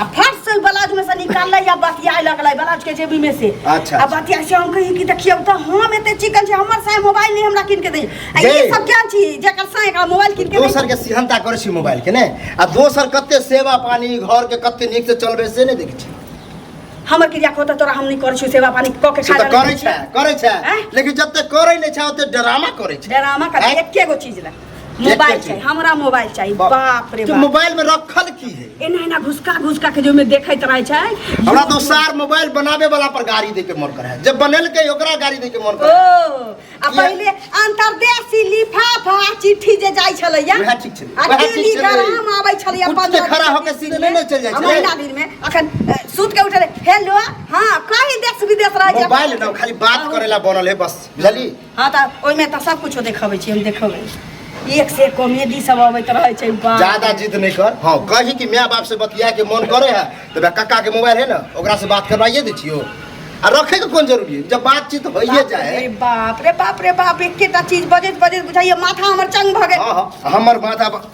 आ फट से उ ब्लाउज में से निकाललै या बतियाए लगलै ब्लाउज के जेबी में से अच्छा, आ अच्छा। बतियाए से हम कही कि देखियौ त हम एते चिकन छै हमर साय मोबाइल नहीं हमरा किन के दै आ जे। ई सब क्या छी जेकर साय एकरा मोबाइल किन के दै दोसर के सिहनता करै छी मोबाइल के ने आ दोसर कते सेवा पानी घर के कते नीक से चलबे से नहि देखै छी हमर क्रिया को त तोरा हम नहीं करै छी सेवा पानी क के से खा तऽ करै छै करै छै आँय? लेकिन जते करै नहि छै ओते ड्रामा करै छै ड्रामा कर आँय? एके गो चीज ला मोबाइल चीज। चाहिए हमरा मोबाइल चाहिए बाप। बाप रे तो बाप मोबाइल में रखल की है एना एना घुसका घुसका के जो में देखैत रहे छै हमरा तो सार मोबाइल बनावे वाला पर गाड़ी दे के मन करे है। जब बनल के ओकरा गाड़ी दे के मन ओ करे है। आ पहिले अंतरदेशी लिफाफा चिट्ठी जे जाइ छलैया वएह ठीक छलै, आ वएह ठीक टीवी छलै। गरम आबै छलैया उठ के पंद्रह खड़ा दिन, होके बीस सीधे दिन नहि ने चलि जाइ आ छलै। महीना दिन में अखन अ, सुत के उठले हेलो हां कहीं देश विदेश रह जाए मोबाइल ना खाली बात करेला बनल है बस बुझली हाँ तऽ ओहिमे तऽ सब कुछो देखबै छी हम देखबै एक से एक कॉमेडी सब अबैत रहै छै बाप। ज्यादा जिद नहीं कर हाँ कही कि माय बाप से बतिया के मन करे है तो बे कक्का के मोबाइल है ना ओकरा से बात करवाइए दे छियो आ रखे के कोन जरूरी है जब बातचीत होइए बाप रे जाए बाप रे बाप रे बाप एकेटा चीज बजैत बजैत बुझाइए माथा हमर चंग भऽ गेल हाँ हाँ हमर माथा ब-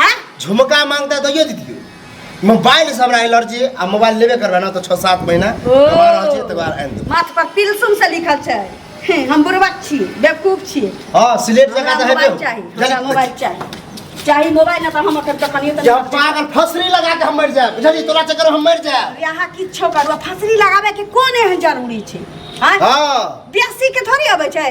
हैं झुमका मांगता तो ये दीदी मोबाइल से हमरा एलर्जी आ मोबाइल लेबे करबे ना तो छः सात महीना ओ। हमरा रहल छै तकर बाद आनि देब माथ पर पिलसुम से लिखल छै हम्म, हम बुरबक छी बेवकूफ छी हँ सिलेट जकाँ हमरा तऽ हेबे मोबाइल हो। चाही हमरा जल्दी- मोबाइल चाही चाही मोबाइल ना तऽ हम ओकर दोकानियो तऽ जब नहि करबै। पागल फसरी लगा के हम मर जाए बुझलियै तोरा चक्कर में हम मर जाए अरे अहाँ किछो करू फसरी लगाबे के कोन एहन जरूरी छै हैं? हाँ बेसी के थोड़ी अबै छै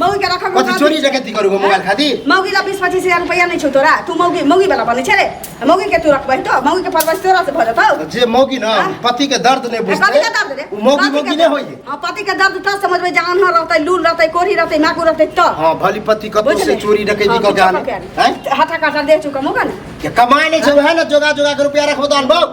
मौगी के रखल कथी चोरी जगती करू गो मोबाइल खाती मौगी ला बीस पच्चीस हजार रुपया नहीं छो तोरा तू मौगी मौगी वाला बने छे रे मौगी के तू रखबै तो मौगी के परवरिश तोरा से भ जतौ जे मौगी ना हाँ। पति के दर्द नहीं बुझते पति के दर्द रे उ मौगी पति मौगी के नहीं दर्द। होई हाँ, पति के दर्द तब समझ में जान न रहतै लूल रहतै कोढ़ी रहतै माकू रहतै तो हां भली पति कतो से चोरी डकैती क जान हैं हटा कटा दे चुका मौका ना के कमाए नहीं छे वह ना जोगा जोगा के रुपया रखबो दान बाबू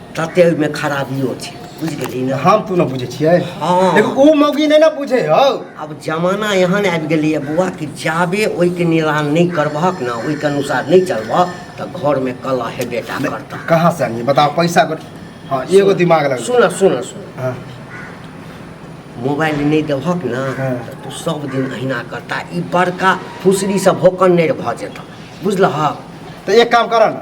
तते ओहिमे खराबियो छै बुझि गेली ने हम तू ने बुझे छियै हँ। देखो ओ मौगी नहि ने बुझे हौ आब जमाना एहन आबि गेलैए बौआ कि जाबे ओहिके निदान नहि करबहक ने ओहिके अनुसार नहि चलबह तऽ घरमे कलह हेबे टा करतह कहाँ से आनी बताओ पैसा को हाँ एगो दिमाग लग सुन सुन सुन हाँ मोबाइल नहि देबहक ने हँ। तऽ तू सब दिन अहिना करता ई बड़का फुसरीसँ भोकन नहि भऽ जेतह बुझलहक तो एक काम करो ना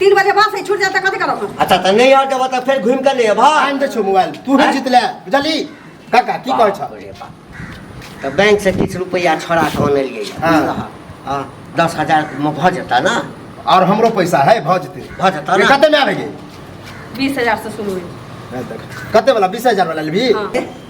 तीन बजे बस है छूट जाता कथी करब हम अच्छा तऽ नहि आर देबऽ तऽ फेर घुमि कऽ ले अबह आनि दै छौ मोबाइल तू ही जीतले बुझली काका की कहै छौ रे बाप। तऽ बैंक से किछु रुपैआ छोड़ा कऽ अनलियै हँ। हँ। हँ, दस हजार मे भऽ जेता ने और हमरो पैसा है भऽ जेतै भऽ जेतऽ ये ने? कते में आबे गे बीस हजार से शुरू हुई कते वाला बीस हजार वाला लेबही हाँ।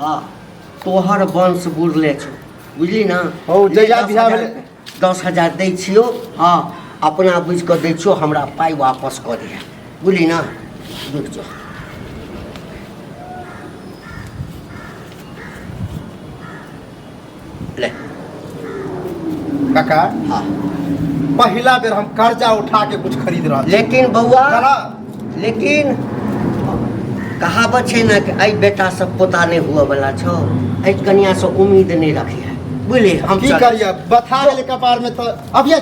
आ तोहर वंश बुरले छौ बुझली ने हौ, जहिया दस बियाह हजार- भेलै- दस हजार दै छियौ हँ अपना बुझि कऽ दै छियौ हमरा पाइ वापस कऽ दिहे बुझली ने रुक जाउ ले काका हाँ पहिला बेर हम कर्जा उठा के कुछ खरीद रहल छी। लेकिन बौआ चला लेकिन कहावत छै ने कि एहि बेटा से पोता नहि हुअ बला छौ एहि कनिया से उम्मीद नहि रखिहे बुझलियै हम की चल- करिए बथा गेलै कपार में तो अभिये